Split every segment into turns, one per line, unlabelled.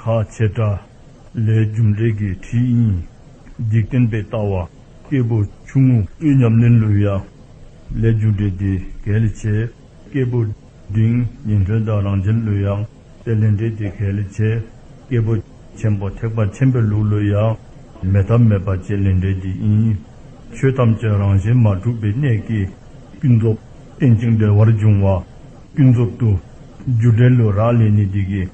ཁ་བྱེ་བྲག་ལས་རྒྱུ་འབྲས་ཀྱི་དྲི་ཡིན། འཇིག་རྟེན་པའི་ལྟ་བ་སྐྱེས་བུ་ཆུང་ངུ། དབུས་ཉམས་ལེན་ལུས་ཡ། ལས་རྒྱུ་འབྲས་དེ་གལ་ལས་ཆེ། སྐྱེས་བུ་འབྲིང་ཉིན་ཐོན་དང་རང་བྱན་ལུས་ཡ། ལས་ལས་འབྲས་དེ་གལ་ལས་ཆེ། སྐྱེས་བུ་ཆེན་པོ་ཐེག་པ་ཆེན་པོའི་ལུགས་ལུས་ཡ། མེ་ཐབས་མེད་པ་བཅས་ལས་འབྲས་དེ་ཡིན། ཆོས་ཐམས་ཅད་རང་བཞིན་མ་གྲུབ་པའི་གནད་ཀྱིས། ཀུན་རྫོབ་རྟེན་ཅིང་འབྲེལ་བར་འབྱུང་བ། ཀུན་རྫོབ་ཏུ། རྒྱུ་འབྲས་ལུས་རགས་ལས་ནི་སྡིག་གི།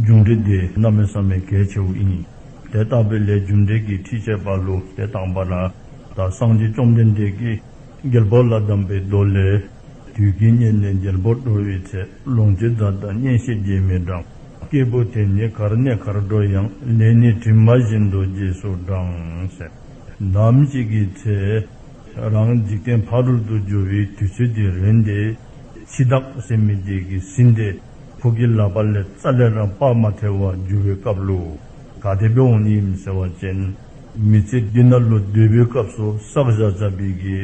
འབྱུང་འབྲས་དེ་རྣམས་མི་བསམ་པའི་གལ་ཆེ་བ་ཡིན། དེ་ལྟ་བུའི་ལས་རྒྱུ་འབྲས་ཀྱི་ཁྲིད་བྱེད་པ་ལུས་དེ་བཏང་བ་ན། ད་སངས་རྒྱས་བཅོམ་ལྡན་འདས་ཀྱིས་རྒྱལ་པོ་ལ་གདམས་པའི་མདོ་ལས། དུས་ཀྱི་གཉེར་ནས་རྒྱལ་པོར་འགྲོ་བའི་ཚེ་ལོངས་སྤྱོད་རྫ་དང་གཉེན་ཤེས་རྗེས་མི་འབྲང། སྐྱེས་བུ་དེ་ནི་གར་གནས་གར་འགྲོ་ཡང་ལས་ནི་གྲིབ་མ་བཞིན་དུ་རྗེས་སུ་འབྲངས། ནམ་ཞིག་གི་ཚེ། རང་འཇིག་རྟེན་ཕ་རོལ་ཏུ་འབྱོར་བའི་དུས་ཚོད་དེ་རན་ཏེ། འཆི་བདག་སེམས་མི་བདེ་གི་སྲིན་དེ་ཁོ་གི་ལག་པ་ལས་རྩ་ལས་རང་དཔག་མ་ཐལ་བར་འགྱུར་བའི་སྐབས་ལུ་ག་དེད་པའི་འོང་ཉིད་ཡིན་ཟེར་བ་ཅན། མི་ཚེ་འདི་ན་ལོ་བདུན་པའི་སྐབས་སུ་བསགས་བཞག་བྱ་བའི་གི་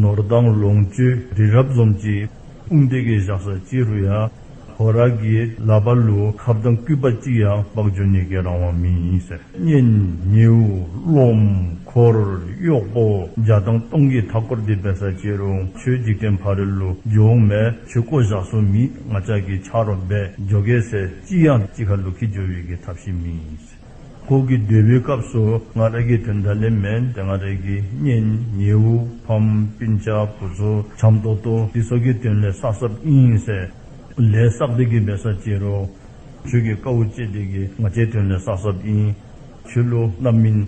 ནོར་དང་ལོངས་སྤྱོད་དེ་རབ་འཛོམས་ཀྱིས་དཔུང་སྟེགས་ཀྱི་བཞག་ས་ཅི་རུ་ཡང་ཧོ་ར་གིས་ལ་པ་ལུའུ་ཁ་བརྡ་སྐུད་པ་གཅིག་ཡང་སྤགས་འཇོ་ཉེ་རྒས་རང་དབང་མིན་ཡིན་ཟེར། གཉེན་ཉེའུ་སློབ། འཁོར་གཡོག་པོ། འཇའ་ཐང་སྟོང་གིས་མཐའ་སྐོར་འདི་བས་ས་བྱེ་རུང་ཆོས་འཇིག་རྟེན་ཕ་རི་ལུ་ཇོ་འོང་མས་ཆོས་བསྐོ་བཞག་སོ་མིས་ང་ཅག་གིས་ཕྱག་རོགས་འབད་འཇོ་གས་ཟེར་ཅི་ཡང་ཅི་ཁ་ལུ་ཁི་འཇོ་བའི་གི་ཐབས་ཤེས་མིན་ཡིན། ཁོག་གི་སྡོད་པའི་སྐབས་སུ་ང་རེ་གི་དོན་དག་ལས་མེད་དེ་ང་རེ་གི་གཉེན་ཉེ་དབུ་ཕམ་སྤུན་ཆ་བུ་ཚོ་བྱམས་སྟོ་སྟོ་འདི་སོགས་ཀྱི་དོན་ལས་བསགས་སྲབ་དབྱིངས་སེ་ལས་བསགས་བདེ་གི་འབད་ས་བྱེད་རོགས། ཁྱོད་ཀྱི་དཀའ་བོ་སྤྱད་བདེ་གི་ང་ཅའི་དོན་ལས་བསགས་སྲབ་དབྱིངས། ཆོས་ལོ་རྣམ་སྨིན།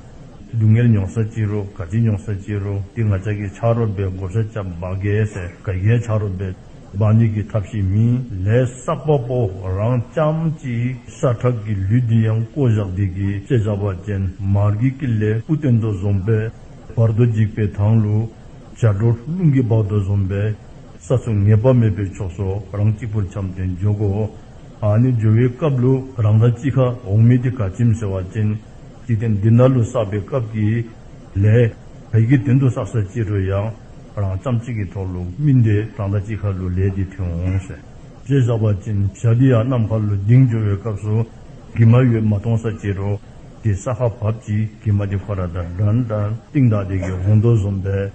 སྡུག་བསྔལ་མྱོང་ས་བྱེད་རོགས་དགའ་བྱེད་མྱོང་ས་བྱེད་རོགས་འདི་ང་ཅག་གི་ཕྱག་རོགས་པའི་བགོ་བཤའ་ཅག་འབག་གས་སེ་དགའ་གས་ཕྱག་རོགས་པའི། བདག་ཉིད་ཀྱི་ཐབས་ཤེས་མིན། ལས་བསགས་པ་པོ་རང་བྱམས་ཀྱི་ཤ་ཁྲག་གི་ལུས་འདི་ཡང་བསྐོ་བཞག་བདེ་གི་ལྕེ་བྱ་བ་ཅན་མར་གྱི་ཀི་ལས་སྤུ་སྟེང་དུ་བཟུང་པས་བར་དོ་འཇིགས་པའི་དྭངས་ལུ། ཇའ་སྒྲོ་རླུང་གི་བག་ཏུ་བཟུང་པས་ས་སུ་ངེས་པ་མེད་པའི་ཕྱོགས་སུ་རང་གཅིག་པུར་འཁྱམས་ཏེ་འཇོག་གོ། ཨ་ནི་སྦྱོར་བའི་སྐབས་ལུ་རང་དང་ཅི་ཁ་འོག་མིན་ཏེ་ག་ཁྱིམ་ཟེར་བ་ཅན། འཇིག་རྟེན་འདི་ན་ལུས་བསགས་པའི་སྐབས་ཀྱི་ལས། བོད་ཀྱི་དོན་དུ་བསགས་སོ་ཅི་དྲོ་ཡང། རང་བརྩམས་གཅིག་གི་ཐོག་ལུགས་སྨིན་ཏེ་གྲངས་ལྟ་གཅིག་ཁ་ལུ་ལས་འདི་ཐོན་འོང་ཟེར། ཅེས་བསགས་པ་ཅན་བཞག་འདི་ཡང་ནམ་མཁའ་ལུས་ལྡིང་སྦྱོར་བའི་སྐབས་སུ། གི་མ་ཡོད་མ་སྟོང་ས་ཅི་དྲོ། དེ་ས་ཁ་བབས་ཀྱིས་གི་མ་དེ་ཁོ་ར་དང་འགྲན་ད་ཏིང་དག་དེ་གི་འོང་དོ་བཟོམ་པས།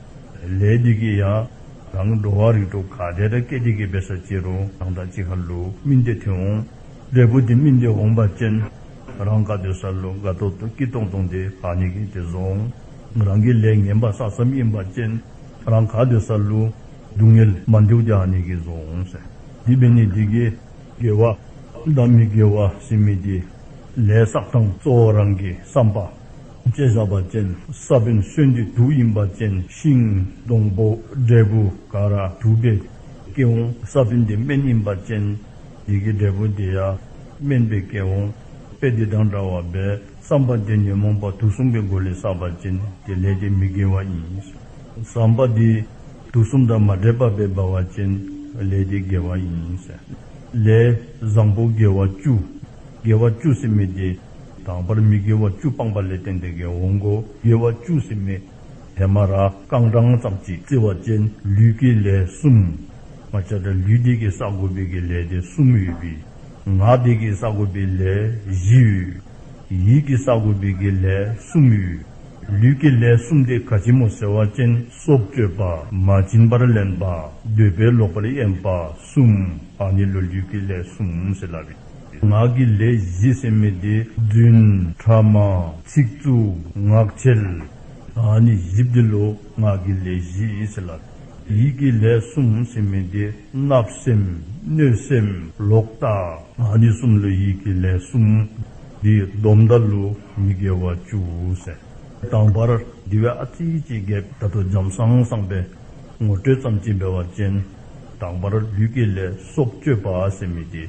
ལས་འདི་གི་ཡང། རང་གི་འགྲོ་བ་རིགས་དྲུག་ག་དེ་དག་སྐད་དེ་གི་བས་ས་ཅི་དྲོ་གྲངས་ལྟ་གཅིག་ཁ་ལུ་སྨིན་ཏེ་ཐོན་འོང། འབྲས་བུ་དེ་སྨིན་ཏེ་འོང་པ་ཅན། རང་ག་དོད་ས་ལུ་ག་ཐོག་ཏུ་སྐྱི་སྟོང་སྟོང་དེ་བག་ནི་གི་དེ་བཟོ་འོང། རང་གི་ལས་ངན་པ་ས་བསམ་གཡེང་བ་ཅན། རང་ག་དུས་སར་ལུས། སྡུག་བསྔལ་མ་འཇུག་བྱ་ནི་གིས་བཟུང། སྡིག་པའི་ནི་སྡིག་གིས། དགེ་བ་དང་མི་དགེ་བ་ཟིན་མི་དགེ། ལས་བསགས་དང་གཙོ་བོ་རང་གི་བསམ་པ། ཅེས་བྱ་བ་ཅན། ས་བོན་གསོན་འདི་དུག་ཡིན་པ་ཅན། ཤིང། སྡོང་པོ། འབྲས་བུ། ཀ་ར། དུག་པའི། སྐྱེ་བོ། ས་བོན་འདི་སྨན་ཡིན་པ་ཅན། ཡི་གེ་འབྲས་བུ་འདི་ཡ། སྨན་པའི་སྐྱེ་བོ། དཔེ་འདི་དང་འདྲ་བ་འབད། བསམ་པ་དེ་ཉོན་མོངས་པ་དུག་གསུམ་གྱི་སྒོ་ལས་བསགས་པར་བྱས་ནས་དེ་ལས་དེ་མི་དགེ་བ་ཡིན། བསམ་པ་དེ་དུག་གསུམ་དང་མ་འདྲེས་པ་པས་འབར་བར་བྱས་ནས་ལས་དེ་དགེ་བ་ཡིན། ལས་བཟང་པོ་དགེ་བ་བཅུ། དགེ་བ་བཅུ་སྲིད་མེད་དེ། དང་པར་མི་དགེ་བ་བཅུ་སྤངས་པ་ལས་བསྟན་ཏེ་དགེ་འོང་ངོ། དགེ་བ་བཅུ་སྲིད་མེད་དེ། མ་ར་རྐང་གྲངས་ཙམ་གྱིས་བརྩི་བར་བྱས་ནས་ལུས་ཀྱི་ལས་གསུམ། མ་བྱ་བྲལ་ལུས་དེ་གིས་བསགས་དགོས་པའི་ལས་དེ་གསུམ་ཡོད་པས། ངག་སྡིག་གིས་བསགས་དགོས་པའི་ལས་བཞི་ཡོད། ཡིད་ཀྱིས་བསགས་དགོས་པའི་གི་ལས་གསུམ་ཡོད། ལུས་ཀྱི་ལས་གསུམ་སྟེ་ག་བྱི་མོ་ཟེ་བ་ཅན་སྲོག་གཅོད་པ་མ་བྱིན་པར་ལེན་པ་འདོད་པས་ལོག་པར་གཡེམ་པ་གསུམ་པ་ནི་ལོ་རྒྱུས་ཀྱི་ལས་གསུམ་ཟེར་ལ། ངག་གི་ལས་བཞི་སེམས་མེད་བདེ་བརྫུན་ཕྲ་མ་ཚིག་རྩུབ་ངག་འཁྱལ། ནི་བཞི་བདེ་ལུགས་ངག་གི་ལས་བཞི་ཟེར་ལ། ཡིད་ཀྱི་ལས་གསུམ་སེམས་མི་བདེ་བརྣབ་སེམས་གནོད་སེམས་ལོག་ལྟ། ཨ་ནི་གསུམ་ལུས་ཡིད་ཀྱི་ལས་གསུམ། འདིས་སྡོམ་མདའ་ལུ་མི་དགེ་བ་བཅུ་ཟད། དང་བར་འདི་བས་ཨ་ཙི་ཅི་བརྒྱད། ད་དུ་འཇམ་སང་སང་པའི་ངོ་སྤྲོད་ཙམ་གྱིས་འབེལ་བ་ཅན། དང་བར་ལུས་ཀྱི་ལས་སྲོག་གཅོད་པ་སེམས་མི་བདེ།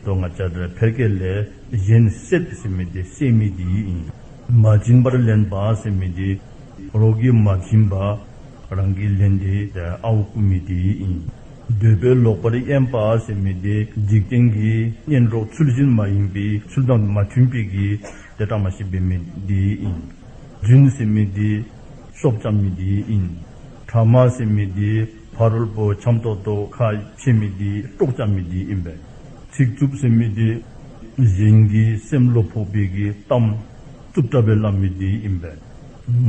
དོན་ལྔ་བྱ་བྲལ་ཕལ་སྐད་ལས་གཞན་བསྲེག་སེམས་མི་བདེ་སེམས་མི་བདེ་ཡིད་ཡིན། མ་བྱིན་པར་ལེན་པ་སེམས་མི་བདེ། རོ་གི་མ་བྱིན་པ། རང་གིས་ལེན་དེ་ཨའོ་སྐུ་མི་བདེ་ཡིན། འདོད་པའི་ལོག་པར་གཡེམ་པ་སེམས་མི་བདེ་འཇིག་རྟེན་གྱི་གཉེན་གྲོགས་ཚུལ་བཞིན་མ་ཡིན་པའི་ཚུལ་དང་མ་མཐུན་པའི་གི་དེ་དྲང་མ་ཤེས་པའི་མི་བདེ་ཡིན། རྫུན་སེམས་མི་བདེ། སྲོག་ལྕམ་མི་བདེ་ཡིན། དྲང་མ་སེམས་མི་བདེ། ཕ་རོལ་པོ་འཁྱམ་ཏོག་ཏོག་ཁ་ཕྱེ་མི་བདེ་སྤྲོག་བཅའ་མི་བདེ་ཡིན་པས། ཚིག་རྩུབ་སེམས་མི་བདེ། གཞན་གྱི་སེམས་བློ་ཕོག་པའི་གི་གཏམ་རྩུབ་བཀྲ་བའི་ལམ་མི་བདེ་ཡིན་པས།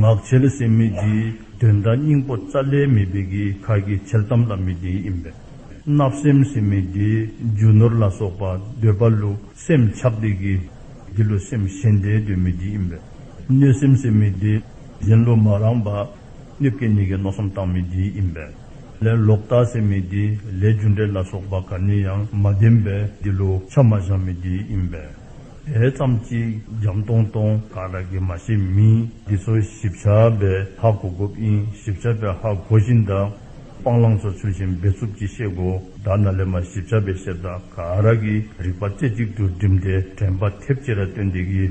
ངག་འཆལ་སེམས་མི་བགྱི། དོན་དམ་སྙིང་པོ་རྩ་ལས་མི་སྦེད་ཀྱི་ཁ་གྱི་འཆལ་གཏམ་ལ་མི་བདེ་ཡིན་པས། བརྣབ་སེམས་སེམས་མི་བདེ། རྒྱུ་ནོར་ལ་སོགས་པ་འདོད་པ་བསླུ་སེམས་ཆགས་བདེ་བགྱི། འདི་ལོ་སེམས་གཞན་བདེ་འདོད་མི་བགྱི་ཡིན་པས། གནོད་སེམས་སེམས་མི་བདེ། གཞན་བསླུ་མ་རངས་པ། གནོད་སྐྱེ་གཉིས་ཀྱི་མནོ་བསམ་བཏང་མི་བགྱི་ཡིན་པས། ལས་ལོག་ལྟ་སེམས་མི་བདེ། ལས་རྒྱུ་འབྲས་ལ་སོགས་པ་ག་ནས་ཡང་མ་བདེན་པས་འདི་ལོ་ཆ་མ་བཞག་མི་བདེ་ཡིན་པས། དེ་ཙམ་གཅིག་བརྒྱའམ་སྟོང་སྟོང་ག་ར་གི་མ་ཤེས་མིན་འདི་ཚོ་ཞིབ་ཆ་བའི་ཧ་གོ་གོ་པིན་ཞིབ་ཆ་བའི་ཧ་གོ་བཞིན་གདའ། སྤང་བླང་ཚོ་ཆུ་བཞིན་འབད་རྩུབ་ཀྱིས་བཤད་གོ་གདའ་ན་ལས་མ་ཞིབ་ཆ་བའི་བཤད་གདའ་ག་ར་གི་རིག་པ་རྩེ་གཅིག་ཏུ་བསྒྲིམས་ཏེ་དྲན་པ་ཐེབས་ཅི་ར་སྟོན་འདི་གི་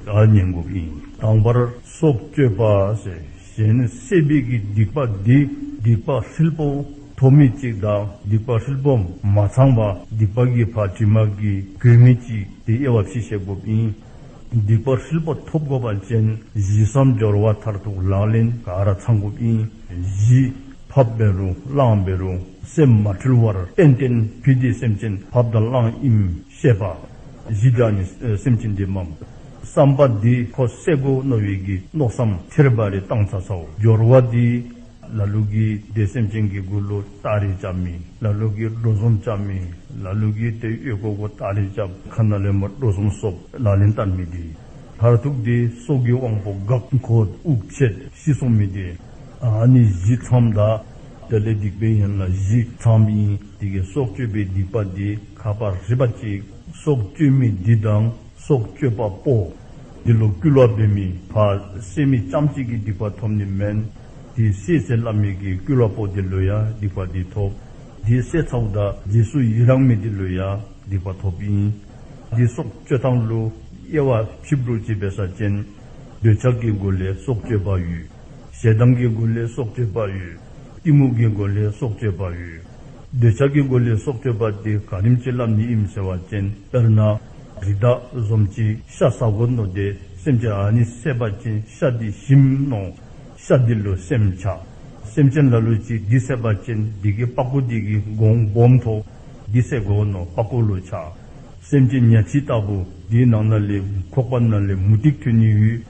གདའ་ཉན་གོ་པིན་དང་བར་སོགས་སྤྱོད་པ་ཟེར། གཞན་ནི་སྲེད་སྦིས་ཀྱི་སྡིག་པ་འདི་སྡིག་པ་ཧྲིལ་པོ་ཐོབ་མི་གཅིག་དང་སྡིག་པ་ཧྲིལ་པོ་མ་ཚང་བ་སྡིག་པ་གི་བར་དྲི་མ་གི་གོས་མི་གཅིག་དེ་དབྱེ་བ་ཕྱིས་བཤད་དགོས་པས། སྡིག་པ་ཧྲིལ་པོ་ཐོབ་དགོས་པ་ཅན་བཞི་བསམ་སྦྱོར་བ་མཐར་ཐུག་ལག་ལེན་གར་ཚང་དགོས་པས་བཞི། ཕབ་པའི་རུང་བླངས་པའི་རུང་སེམས་མ་འཁྲུལ་བར་གཏན་གཏན་བུད་དེ་སེམས་ཅན་ཕབ་དང་བླངས་དབྱིངས་བཤད་པ། གཞི་བདག་ནི་སེམས་ཅན་འདི་འམ། བསམ་པ་འདི་ཁོ་སེ་གོ་རྣོ་བའི་གི་རྣོ་བསམ་ཐེར་པ་རེ་བཏང་ཚ་ཚའོ་སྦྱོར་བ་འདི། ལ་ལུག་གི་འདི་སེམས་ཅན་གི་དགུ་ལོ་སྟག་རེ་བཅབ་མི་ལ་ལུག་གི་སྒྲོ་གཟུམ་བཅབ་མི་ལ་ལུག་གི་དེ་གཡོས་ཀོ་ཀོ་སྟག་རེ་བཅབ་ཁ་ན་ལེན་པ་སྒྲོ་གཟུམ་བསོབ་ལ་ལེན་བསྟར་མི་འདི། མཐར་ཐུག་འདི་སྲོག་གི་དབང་པོ་འགག་འཁོ་དབུགས་ཆད་ཤི་གསོང་མི་འདི། ཨ་ནི་བཞི་མཚམས་དག། དེ་ལས་སྡིག་པའི་ཡན་ལག་བཞི་ཚང་བ་ཡིན། དེ་གའི་སྲོག་གཅོད་པའི་སྡིག་པ་དེ་ཁ་པ་རི་པ་གཅིག། སྲོག་གཅོད་མི་འདི་དང་སྲོག་གཅོད་པ་པོ། འདི་ལོ་བསྐུལ་བ་འབེབས་མི་ཕ་སེ་མི་ལྕམ་གཅིག་གི་སྡིག་པ་ཐོབ་ནི་མན། དེའི་སྲས་ཚེ་བླ་མེད་ཀྱི་བསྐུལ་བ་པོ་དེ་ལོས་ཡ་སྡིག་པ་དེ་ཐོབ། དེའི་སྲས་ཚ་བུ་དག་རྗེས་སུ་ཡི་རང་མེད་དེ་ལོས་ཡ་སྡིག་པ་ཐོབ་ཡིན། དེའི་སྲོག་གཅོད་ཐང་ལུ། དབྱེ་བ་ཕྱིབ་དྲུག་ཅེས་པའི་ས་ཅན། འདོད་ཆགས་ཀྱི་སྒོ་ལས་སྲོག་གཅོད་པ་ཡུལ། ཞལ་གདམས་ཀྱི་སྒོ་ལས་སྲོག་གཅོད་པ་ཡོད། གཏི་མུག་གི་སྒོ་ལས་སྲོག་གཅོད་པ་ཡོད། འདོད་ཆགས་ཀྱི་སྒོ་ལས་སྲོག་གཅོད་པ་སྟེ་གངས་རིམ་བྱིན་རླབས་ནི་ཨིམ་ཟེར་བ་ཅན་ལྟར་ན། རི་དྭགས་ཟོམ་ཅན་ཤ་ཟ་གོ་ནོ་སྟེ་སེམས་ཅན་ཨ་ནི་སྲེད་པ་ཅན་ཤ་འདི་ཞིམ་ནོ། ཤ་འདི་ལུ་སེམས་བྱ། སེམས་ཅན་ལ་ལུ་ཅིག་འདི་སྲེད་པ་ཅན་སྡིག་གི་སྤ་གོ་སྡིག་གི་འགོང་སྦོམ་ཐོ། འདི་སྲེད་གོ་ནོ་སྤ་གོ་ལུ་བྱ། སེམས་ཅན་གཉའ་ཁྲི་ལྟ་བུ་འདིའི་ནང་ན་ལས་ཁོག་པ་ན་ལས་མུ་ཏིག་ཐུན་ནི་ཡུལ།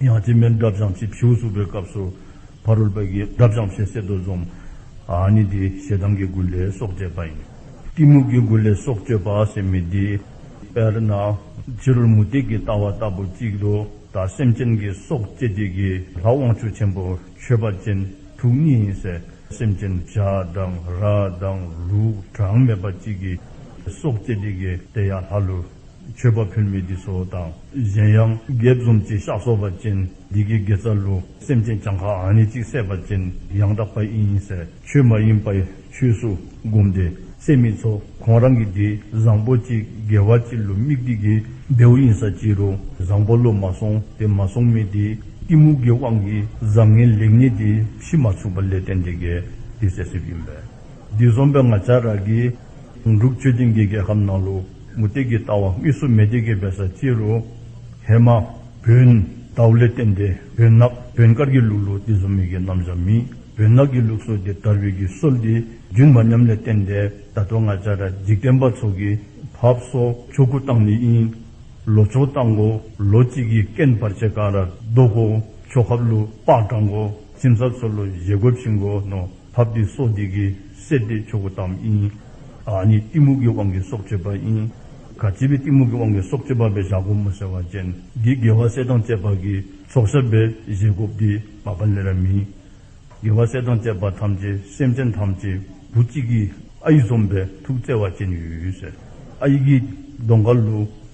ཡང་སྤྱི་སྨན་བསྒྲབས་སྦྱང་བྱེད་བྱིའུ་གསོད་པའི་སྐབས་སུ། ཕ་རོལ་པོ་ཡིས་བསྒྲབས་སྦྱང་བྱེད་གསེར་རྡོ་འཛོམ། ནི་འདི་ཞེ་སྡང་གི་མགུལ་ལས་སྲོག་གཅོད་པ་ཡིན། གཏི་མུག་གི་མགུལ་ལས་སྲོག་གཅོད་པ་སེམས་མི་བདེ། དཔེར་ན། ཕྱི་རོལ་མུ་སྟེགས་ཀྱི་ལྟ་བ་ལྟ་བུ་གཅིག་ཏུ་དང་སེམས་ཅན་གྱི་སྲོག་གཅད་བྱེད་ཀྱི་ལྷ་དབང་ཕྱུག་ཆེན་པོ་མཆོད་པ་ཅན་དྲུག་གཉིས་ཡིན། སེམས་ཅན་བྱ་དང་ར་དང་ལུག་གྲངས་མེད་པ་གཅིག་གི་སྲོག་གཅད་བྱེད་ཀྱི་དེ་ཡང་ལྷ་ཀླུ། མཆོད་པ་ཕུལ་མི་དེ་སོགས་དང་གཞན་ཡང་དགེ་བཙུན་གྱི་ཤག་སོགས་པ་ཅན་སྡེ་དགེ་དགེ་རྩ་ལུ་སེམས་ཅན་བྱང་ཁ་ཨ་ནི་ཅིག་སད་པ་ཅན་ཡང་དག་པ་ཨིན་ཡིན་ཟེར་ཆོས་མ་ཡིན་པའི་ཆོས་སུ་བསྒོམས་ཏེ་སད་མི་ཚོ་གོང་རང་གི་དེ་བཟང་པོ་གཅིག་དགེ་བ་གཅིག་ལུ་མིག་དེ་དགེ་བདེ་བོ་ཡིན་ས་ཅི་རུ་བཟང་པོ་ལུ་མ་སོང་དེ་མ་སོང་མི་དེ་གཏི་མུག་གི་དབང་གིས་བཟང་ངན་ལེགས་ཉེས་དེ་ཕྱིས་མ་ཚུགས་པ་ལས་རྟེན་འབྲེལ་འགལ་དེ་ཟད་སིབ་ཡིན་པས་དེ་བཟོམ་པའི་ང་ཅག་ར་གི་འབྲུག་ཆོས་ཅན་གྱི་རྒྱལ་ཁབ་ནང་ལུ། མུ་སྟེགས་ཀྱི་ལྟ་བ་དབུས་སུ་མེ་སྟེགས་ཀྱི་བལ་ས་སྤྱི་རུ། ཧེ་མ། བུན། དྭ་བླས་བསྟན་ཏེ་བུན་ནག་བུན་དཀར་གྱི་ལུགས་ལུགས་འདི་གཟུང་མེད་ཀྱི་རྣམ་བཞག་མིན། བུན་ནག་གི་ལུགས་སྲོལ་འདི་དར་བའི་ཀྱི་སྲོལ་འདི་རྒྱུད་མ་ཉམས་ལས་བསྟན་ཏེ་ད་དུང་ང་ཅག་ར་འཇིག་རྟེན་པ་ཚོ་གི་བབས་སོ་ཆོས་སྐུ་བཏང་ནི་ཨིན། ལོ་ཆོས་བཏང་གོ་ལོ་གཅིག་གི་རྐན་བར་ཆད་གང་ར་བཟློག་གོ་ཆོས་ཁབ་ལུགས་དཔག་དྲངས་གོ་ཁྱིམ་ཟབ་ཚོ་ལོ་བཞེས་གོ་ཕྱིན་གོ་ནོ། ཐབས་འདིས་སྲོག་འདི་གི་སྲེད་བསྡེབས་ཆོག་གོ་དམ་ཨིན། ཨཱ་ནི་གཏི་མུག་གི་དབང་གིས་སྲོག་གཅོད་པ་ཨིན། ག་བྱེད་པའི་གཏི་མུག་གི་དབང་གིས་སྲོག་གཅོད་པ་བས་བཞག་གོ་མོ་ཟེར་བ་ཅན་འདི་དགེ་བ་སྲེད་དང་བཅས་པ་གིས་སྲོག་ཤར་བས་བཞེད་དགོ་བདེ་བ་པ་ལེ་ར་མིན། དགེ་བ་སྲེད་དང་བཅས་པ་ཐམས་ཅད་སེམས་ཅན་ཐམས་ཅད་བུ་གཅིག་གིས་ཨ་ཡིག་འཛོམས་པས་ཐུགས་བརྩེ་བ་ཅན་ཡོད། ཨ་ཡིག་གིས་གདོང་དཀར་ལུགས།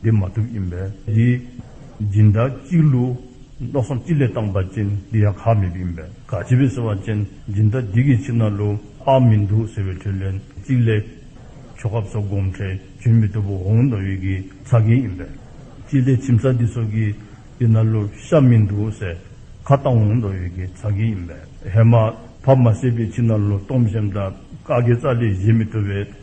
འདི་མ་ཐུབ་ཡིན་པས་འདི། སྦྱིན་བདག་གཅིག་བསླུ། མནོ་བསམ་གཅིག་ལས་བཏང་པ་ཅན་འདི་ཡང་གག་མེད་པ་ཡིན་པས་གག་བྱེད་པས་ཟེར་བ་ཅན་སྦྱིན་བདག་འདི་གིས་ཕྱིར་ན་བསླུ་བག་མི་འདུག་ཟེར་བའི་དྲིས་ལན་གཅིག་ལས། ཆོ་ག་སོགས་སྒོམ་ཁྲལ་བྱོན་མི་ཐུབ་པོ་འོང་དང་ཡོད་ཀྱི་ཚ་རྒན་ཡིན་པས། གཅིག་ལས་ཁྱིམ་བཟའ་འདི་སོགས་ཀྱིས་འདི་ན་བསླུ་བཤགས་མི་འདུག་ཟེར་ཁ་བཏང་འོང་དང་ཡོད་ཀྱི་ཚ་རྒན་ཡིན་པས། ཧེ་མ། བབ་མ་བསད་པས་ཕྱིར་ན་བསླུ་བཏོམ་བཤམས་དང་བཀའ་དགེ་རྩ་ལས་བཞེས་མི་ཐུབ་པས་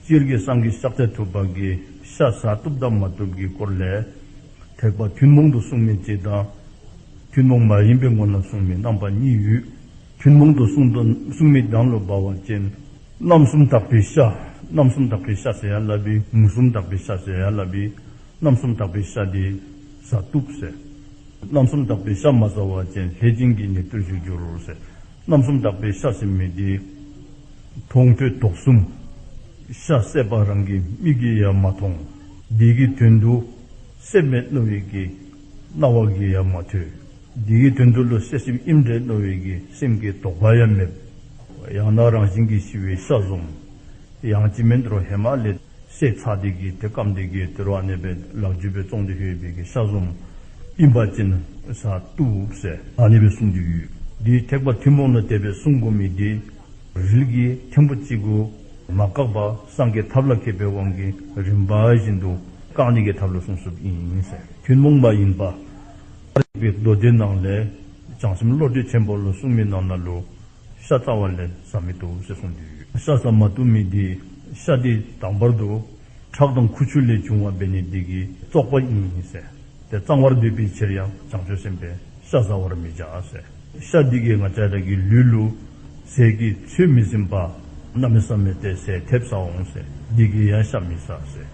སྤྱིར་སྐད་གསང་གི་ཕྱག་རྫས་ཐུབ་པ་གི་ཤ་ཟ་གཏུབ་དང་མ་གཏུབ་ཀྱི་སྐོར་ལས། ཐེག་པ་ཐུན་མོང་དུ་གསུངས་མིན་གཅིག་དང། ཐུན་མོང་མ་ཡིན་པའི་སྔོན་ལ་གསུངས་མིན་རྣམ་པ་གཉིས་ཡོད། ཐུན་མོང་དུ་གསུངས་མིན་གདངས་ལོ་སྦ་བ་ཅན། རྣམ་གསུམ་དག་པའི་ཤ། རྣམ་གསུམ་དག་པའི་ཤ་ཟེར་ཡ་ལ་བི། མུ་གསུམ་དག་པའི་ཤ་ཟེར་ཡ་ལ་བི། རྣམ་གསུམ་དག་པའི་ཤ་དེ་ཟ་གཏུབ་ཟེར། རྣམ་གསུམ་དག་པའི་ཤ་མ་ཟ་བ་ཅན་ལྷས་སྦྱིན་གྱི་ཉེར་སྤྱོད་བཞུགས་འགྱུར་ཟེར། རྣམ་གསུམ་དག་པའི་ཤ་ཟའི་མི་དེས། མཐོང་ཐོས་དོགས་གསུམ། ཤ་ཟས་པ་རང་གི་མིག་གིས་ཡང་མ་མཐོང། བདེ་གི་དོན་དུ། སེམས་མེད་བསྣོལ་བས་ཀྱི། རྣ་བ་གིས་ཡང་མ་ཐོས། བདེ་གི་དོན་དུ་བློ་གསལ་སེམས་དབྱིབས་འདྲེས་བསྣོལ་བས་ཀྱི་སེམས་ཀྱི་དོགས་པ་ཡང་མེད། ཡང་དག་རང་བཞིན་གྱིས་ཤི་བའི་ཤ་ཟོམ། ཡང་ཅི་མིན་དུ་རོ་ཧེ་མ་ལས། སྲེག་ཚགས་སྡེ་དགེ་དེ་སྐམ་སྡེ་དགེ་དེར་བ་ནས་པའི་ལག་བརྒྱུད་པའི་ཙོང་ཏེ་ཤོད་སྦེ་ཀེ་ཤ་ཟོམ་ཨིན་པ་ཅན་ས་ཏུ་སེ། བ་ནས་པའི་སུང་གི་ཡུལ་དེའི་ཐེག་པ་ཐུན་མོང་ན་དད་པའི་སྲུང་འགོ་མི་དེ་རིལ་གྱི་མཁན་པོ་གཅིག་གུ་མ་བཀག་པ་སངས་རྒྱས་ཐབས་ལ་མཁས་པའི་དབང་གི་རིམ་པ་བཞིན་དུ་བཀག་ནས་ཀྱི་ཐབས་ལ་སྲུང་སྲུབ་ཨིན་ཟེར། ཐུན་མོང་མ་ཡིན་པ། ཨ་རིག་པའི་མདོ་སྡེ་ནང་ལས་བྱང་སེམས་བློ་གྲོས་ཆེན་པོ་ལ་སྲུང་མི་གནང་ན་ལུ་ཤ་རྩ་བ་ལས་ཟ་མི་འདུག་ཅེས་གསུངས་དུས། ཤ་རྩ་མ་དུ་མི་དེས་ཤ་དེ་དང་བར་དུ། ཁྲག་དང་ཁུ་ཆུ་ལས་བྱུང་བ་སྦས་ནས་བདེ་གི་བཙོག་པ་ཡིན་ཟེར། དེ་གཙང་བར་འདོད་པའི་ཕྱིར་ཡང་བྱང་ཆུབ་སེམས་དཔས་ཤ་བཟའ་བར་མི་བྱ་ཟེར། ཤ་འདི་གའི་ང་ཅག་གི་ལུས་ལུ། ཟས་ཀྱི་ཚོད་མི་ཟིན་པ། གནའ་མི་ས་མི་དེས་ཟས་ཐེབས་ཟ་འོང་ཟེར་འདི་གའི་ཡང་ཤ་མི་ཟ་ཟེར།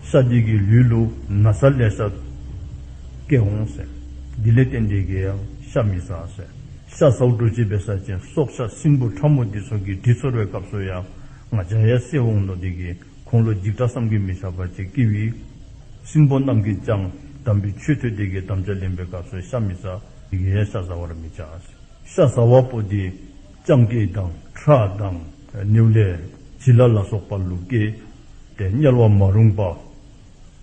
ཤ་འདི་གའི་ལུས་ལུ། ན་བཟའ་ལས་ཤ་སྐྱེས་འོང་ཟེར། འདི་ལས་བརྟེན་འདི་གའི་ཡང་ཤ་མི་ཟ་ཟེར། ཤ་སོགས་འབྲུ་བྱེད་པའི་ས་ཆེན་སྲོག་ཆགས་སྲིན་འབུ་ཕྲ་མོ་འདི་ཚོང་གི་དྲི་ཚོར་བའི་སྐབས་སུ་ཡང་ང་འཇའ་ཡལ་སེ་འོང་ནོ་འདི་གི་ཁུངས་ལོ་འཇིགས་སྐྲག་བསམ་གྱིས་མི་ཁྱབ་པར་བྱེད་ཀི་ཝི། སྲིན་པོ་རྣམས་ཀྱིས་ཀྱང་དམ་པའི་ཆོས་ཐོས་དེ་གའི་དམ་བཅའ་ལེན་པའི་སྐབས་སུ་ཤ་མི་ཟ་འདི་གའི་ཤ་ཟ་བར་མི་བྱ། ཤ་ཟ་བ་པོ་འདི་སྤྱང་སྐེ་དང་ཁྲག་དང་ནེའུ་ལེ་བྱི་ལ་ལ་སོགས་པ་ལུག་སྐེ་སྟེ་དམྱལ་བ་མ་རུངས་པ།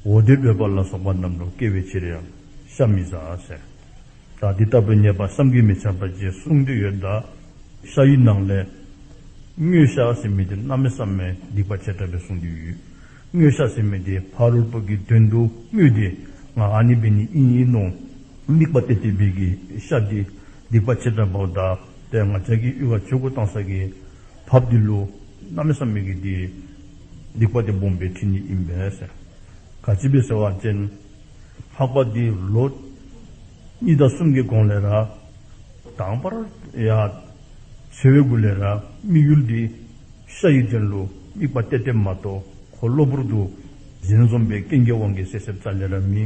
འོ་དོད་འབོད་པ་ལ་སོགས་པ་རྣམས་ལུག་སྐེ་བའི་ཕྱིར་ཡང་ཤ་མི་ཟ། དང་དེ་ལྟ་བུ་ཉེས་པ་བསམ་གྱིས་མི་ཁྱབ་པ་བཅས་གསུངས་དུས་ཡོད་དཱ། ཤ་ཡི་ནང་ལས། སྨྱོས་ཤ་ཟེར་མི་དེ་གནའ་མི་བསམ་མས་སྡིག་པ་བྱས་དྲགས་པས་གསུངས་དུས་ཡོད། སྨྱོས་ཤ་ཟེར་མི་དེ་ཕ་རོལ་པོ་གི་དོན་དུ་སྨྱོས་ཏེ་ང་ཨ་ནི་བི་ནི་ཨིན་ཡིན་ནོ། དམིགས་པ་སྟེ་དེ་བི་གི་ཤ་དེ་སྡིག་པ་བྱས་དྲགས་པའོ་དཱ། དེ་ང་ཅག་གིས་དབུལ་བ་ཆོས་སྐུ་བཏང་ས་གི་བབ་དེ་ལུགས་གནའ་མི་བསམ་མས་ཀྱི་དེ་སྡིག་པ་དེ་སྦོམ་པའི་ཁྲིད་ཉིད་ཡིན་པས། ག་ཅི་བི་ཟེར་བ་ཅན། འཕགས་པ་འདི་ལོ་གཉིས་དང་གསུམ་གྱི་གོང་ལས་ར། དང་བར་ཡ། ཚེ་བའི་དགུ་ལས་ར་དམིགས་ཡུལ་འདི། ཤ་ཡི་དྲན་གླུ་དམིགས་པ་གཏད་གཏད་མ་གཏོགས་གོ་གློ་བུར་དུ། གཞན་འཛོམས་པའི་སྐྱེ་འགྱེད་དབང་གིས་སད་སེར་ཙག་ལས་ར་མི།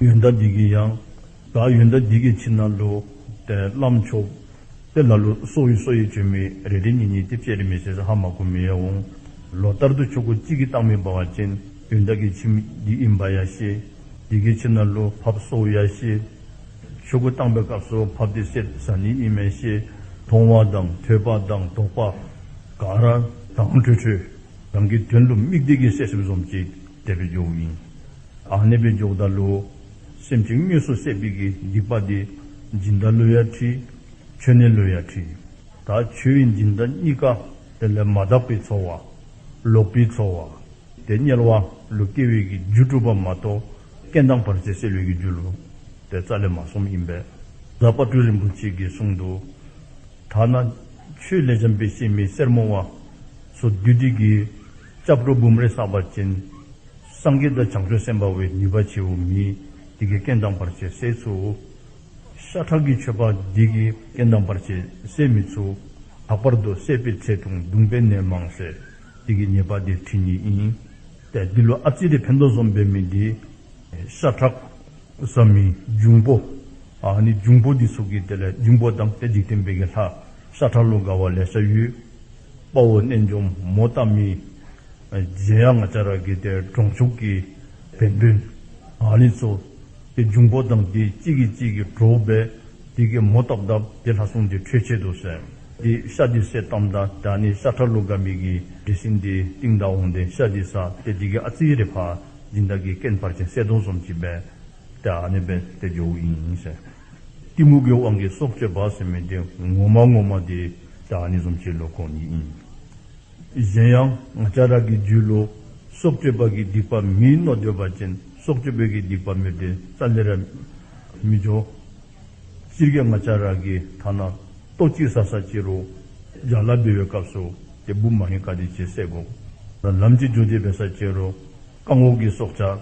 ཡོན་བདག་འདི་གི་ཡང། བདག་ཡོན་བདག་འདི་གི་ཕྱི་ན་ལོ། དེ་བླ་མཆོག། དེ་ལ་ལོ་སོ་ཡི་སོ་ཡི་བཅོས་མི་རེ་རེ་གཉིས་གཉིས་ཏེ་བཅད་རེ་མི་བྱས་ས་ཧ་མ་གོ་མི་ཡ་འོང། ལོ་ལྟར་དུ་ཆོས་སྐུ་གཅིག་གི་རྟགས་མི་འབར་བ་ཅན། དུས་བདག་གི་ཁྱིམ་འདི་ཨིན་བ་ཡ་ཤེས། འདི་གའི་ཁྱིམ་ན་ལོ་བབས་སོ་ཡ་ཤེས། ཤོག་བུ་བཏང་པའི་སྐབས་སུ་བབས་དེ་སེར་བཟའ་ནི་ཨིན་མེ་ཤེས། མཐོང་བ་དང་ཐོས་པ་དང་དོགས་པ། ག་ར་དང་ཁྲོས་ཁྲོས། རང་གི་དོན་དུ་དམིགས་བདེ་གི་སད་སེམས་ཟོམ་གྱིས་བསྡད་པའི་རྒྱུ་ཡིན། ཨ་ནེ་པའི་འཇུག་བདག་ལོའུ། སེམས་ཀྱི་དངོས་སུ་སད་པིག་གི་སྡིག་པ་དེ། སྦྱིན་བདག་ལོའུ་ཡ་ཁྲི། ཆོས་གནས་ལོའུ་ཡ་ཁྲི། ད་ཆོས་དབྱིངས་སྦྱིན་བདག་གཉིས་ཀ་དེ་ལས་མ་དག་པའི་ཚོར་བ། ལོག་པའི་ཚོར་བ། དེ་དམྱལ་བ་ལུ་སྐྱེ་བོས་ཀྱི་རྒྱུ་སྒྲུབ་པ་མ་གཏོགས་སྐད་མདངས་བར་ཆད་སེལ་བའི་ཀྱི་རྒྱུ་ལུ་སྟེ་རྩ་ལས་མ་གསུམ་ཡིན་པས་ཛཔ྄་སྤྲུལ་རིན་པོ་ཆེས་ཀྱི་གསུང་དུ། ཐ་ན། ཆུའི་ལས་འཇམ་པའི་སྐྱེ་མེད་སེར་མོ་བ། སོ་བདུད་སྡིག་གི། ལྕགས་སྒྲོག་འབུམ་རེ་བསགས་པ་ཅན། སངས་རྒྱས་དང་བྱང་ཆུབ་སེམས་དཔའ་བའི་ནུས་པ་ཆེའོ་མིའི་དེ་ཀའི་སྐད་མདངས་བར་ཆད་སེལ་ཚུལ། ཤ་ཁྲག་གི་མཆོད་པ་བགེགས་ཀྱི་རྐྱེན་དམ་པར་བྱེད་ཟས་མི་ཚུགས། ལྷག་པར་དུ་བསད་པའི་ཚེ་དུང་གདུང་པའི་ནད་མང་བསད། དེ་གི་ཉེས་པ་འདི་ཁྲི་ཉིས་ཡིན། ཏེ་འདི་ལོ་ཨ་ཙི་རི་བྷནྡྷོ་ཟོམ་པའི་མི་འདི། ཤ་ཁྲག། བཟའ་མི། འབྱུང་པོ། ཨ་ནི་འབྱུང་པོ་འདི་ཚུགས་ཀྱི་དེ་ལས་འབྱུང་པོ་དང་དེ་འཇིག་རྟེན་པའི་གི་ལྷ། ཤ་ཁྲག་ལུ་ག་བ་ལས་ཤ་ཡུལ། དཔའ་བོ་རྣལ་འབྱོར་མོ་རྟ་མི། རྗེ་ཡ་ང་ཅཱ་ར་གི་དེ་གྲོང་ཕྱུགས་ཀྱི། བན་བོན། ཨ་ནི་གཙོ། དེ་འབྱུང་པོ་དང་དེ་གཅིག་གིས་གཅིག་གིས་གྲོགས་པས་དེ་སྐད་མོ་རྟག་གདབ་དེ་ལྷ་སྲུང་དེ་ཁྲོས་ཆད་དུ་ཟེར། དེ་ཤ་དེ་སེ་གཏམ་ད་ད་ནི་ཤ་ཁྲ་ལུག་ག་མིག་གིས་འདྲི་ཟིན་དེ་སྟེང་ད་འོང་དེ་ཤ་དེ་ཟ་དེ་དེ་གི་ཨ་ཙི་རེ་ཕ་སྦྱིན་བདག་གི་སྐད་འཕར་ཅིང་སེ་དོང་ཟོམ་གྱིས་སྦས། དེ་ཨ་ནི་པས་དེ་ཇོ་བོ་ཡིན་ཟེར། གཏི་མུག་གི་དབང་གིས་སྲོག་གཅོད་བག་ཟེར་མི་དེ་ངོ་མ་ངོ་མ་དེ་དེ་ཨ་ནི་ཟོམ་གྱི་ལོ་ཁོ་ཉིད་ཡིན། གཞན་ཡང། སྐྱ་རགས་ཀྱི་རྒྱུད་ལོ། སྲོག་གཅོད་པ་གིས་སྡིག་པ་མིའི་རྣོ་སྦྱོར་བ་ཅན་སྲོག་གཅོད་པོས་གིས་སྡིག་པ་མི་དེ་རྩ་ལེ་ར། མི་འབྱོར། སྤྱིར་སྐྱེ་སྔ་སྐྱ་རགས་ཀྱི་ཐ་ན། ལྟོ་གཅིག་ས་ས་སྐྱེ་རུ། ལྗགས་ལ་བསྡུ་བའི་སྐབས་སུ། དེ་བུ་མ་ཡིན་ཀ་དེ་བྱས་སྲེག་གོ། ལམ་གཅིག་འཇོག་བྱེད་བས་ས་སྐྱེ་རུ། རྐང་འོག་གི་སྲོག་ཆགས།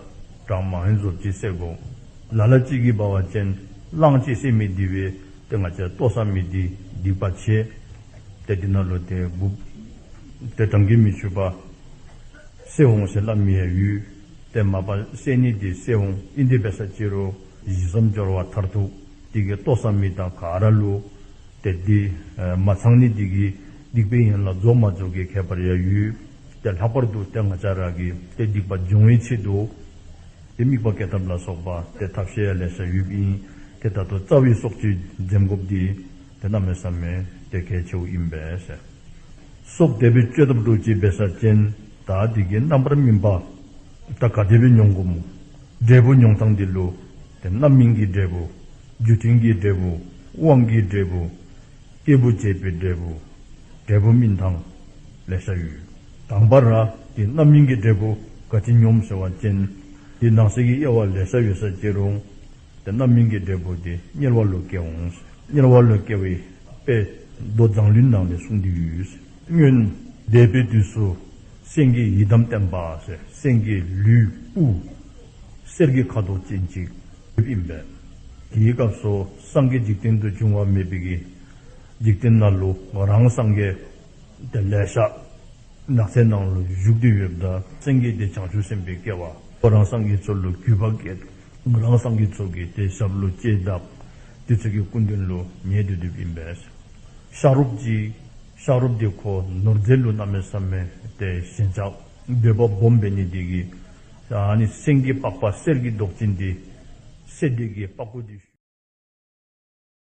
གྲངས་མ་ཡིན་ཟོར་གྱིས་སྲེག་གོ། ལ་ལ་གཅིག་གིས་སྦ་བ་ཅན། གླང་གཅིག་སྲེག་མི་དེ་བས་དེ་སྔ་སྐྱ་ལྟོ་ས་མི་དེས་སྡིག་པ་བྱས། དེ་འདི་ན་ལོ་དེ་དགུག། དེ་དྲང་གིས་མི་ཆུད་པ། སྲེ་འོང་ཞེས་བསླབ་མི་ཡ་ཡུལ། དེ་མ་པ་སྲེ་ནི་དེ་སྲེ་འོང་ཨི་འདི་བེ་ས་ཅི་རོ། གཞི་བསམ་སྦྱོར་བ་མཐར་ཐུག་དེ་གི་ཏོ་སང་མི་དང་ག་ར་ལུ། དེ་འདི་མ་ཚང་ནི་དེ་གི་སྡིག་པའི་ཡན་ལ་རྫོགས་མ་རྫོགས་གི་ཁད་པར་ཡ་ཡུལ། དེ་ལྷག་པར་དུ་དེ་ང་ཅག་ར་གི་དེ་སྡིག་པ་སྦྱོང་བའི་ཆེད་དུ། དེ་དམིགས་པ་ཀའི་ཐབས་ལ་སོགས་པ་དེ་ཐབས་ཤེས་ཡ་ལས་བྱ་ཡུལ་བིན། དེ་ད་དོ་རྩ་བའི་སྲོག་གཅོད་འཛེམ་བགོབ་དེ། དེ་རྣམས་ནི་བསམ་མེད་དེ་གལ་ཆེའོ་ཡིན་པས། སོགས་དད་པའི་བཅོས་ཐབས་རྡོ་རྗེའི་སྦས་ས་ཅན། དག་སྡིག་གི་རྣམ་པར་སྨིན་པ། ད་གའ་དད་པའི་མྱོང་གོམས། འབྲས་བུ་མྱོང་སྟངས་འདི་ལོ། དེ་རྣམ་སྨིན་གྱི་འབྲས་བུ། རྒྱུ་མཐུན་གྱི་འབྲས་བུ། དབང་གི་འབྲས་བུ། སྐྱེས་བུ་བྱེད་པའི་འབྲས་བུ། འབྲས་བུ་སྨིན་དང། ལས་བྱ་ཡུལ། དང་བ་ར། དེ་རྣམ་སྨིན་གྱི་འབྲས་བུ། ག་དྲིན་སྙོམས་ཟེར་བ་ཅན། དེ་ནང་གསེས་ཀྱི་དབྱེ་བ་ལས་བྱ་ཡུལ་ས་བཅད་རུང། དེ་རྣམས་མིང་གི་འབྲས་བུ་དེ་གཉེར་བ་ལུས་སྐྱེ་འོང། གཉེར་བ་ལུས་སྐྱེ་བའི་དཔེས། མདོ་བརྫངས་ལུས་ནང་ལས་གསུངས་དུས། སྨྱོན། འདས་པའི་དུས་སུ། སེང་གེའི་ཡི་དམ་བསྟན་པ། སེང་གེའི་ལུས། དབུས། གསེར་གྱི་ཁ་དོག་ཅན་ཅིག། ཡིན་པས། དེའི་སྐབས་སུ་སངས་རྒྱས་འཇིག་རྟེན་དུ་འབྱུང་བ་མེད་པས། འཇིག་རྟེན་ན་ལུས་རང་སངས་རྒྱས། དེ་ལས་ཤཱཀྱ་ནགས་ཚལ་ནང་ལ་བཞུགས་དུས་ཡོད་དུ་སེང་གེ་དེ་བྱང་ཆུབ་སེམས་དཔའི་སྐལ་བ། ཁོ་རང་སངས་རྒྱས་ཚུལ་ལུས་གུས་པར་བསྐྱེད་དོ། རང་སངས་རྒྱས་ཚོགས་ཀྱི་དེ་ཞབས་ལོ་བསྐྱེད་གདབ། དེ་ཚོད་ཀྱི་སྐུ་མདུན་ལོ་ཉེས་དུ་དུབ་ཡིན་པས། ཤཱ་རོབ་ཅིག། ཤཱ་རོབ་དེ་ཁོ་ནོར་རྫས་ལུས་རྣམས་མེད་སར་མེད་དེ་ཞེན་ཆགས་འདོད་པ་སྦོམ་པས་ནི་དེ་གི། ནི་སེང་གེའི་པགས་པ་གསེར་གྱི་མདོག་ཅན་དེ། གསེར་དེ་གི་པགས་ཀུ་དེ།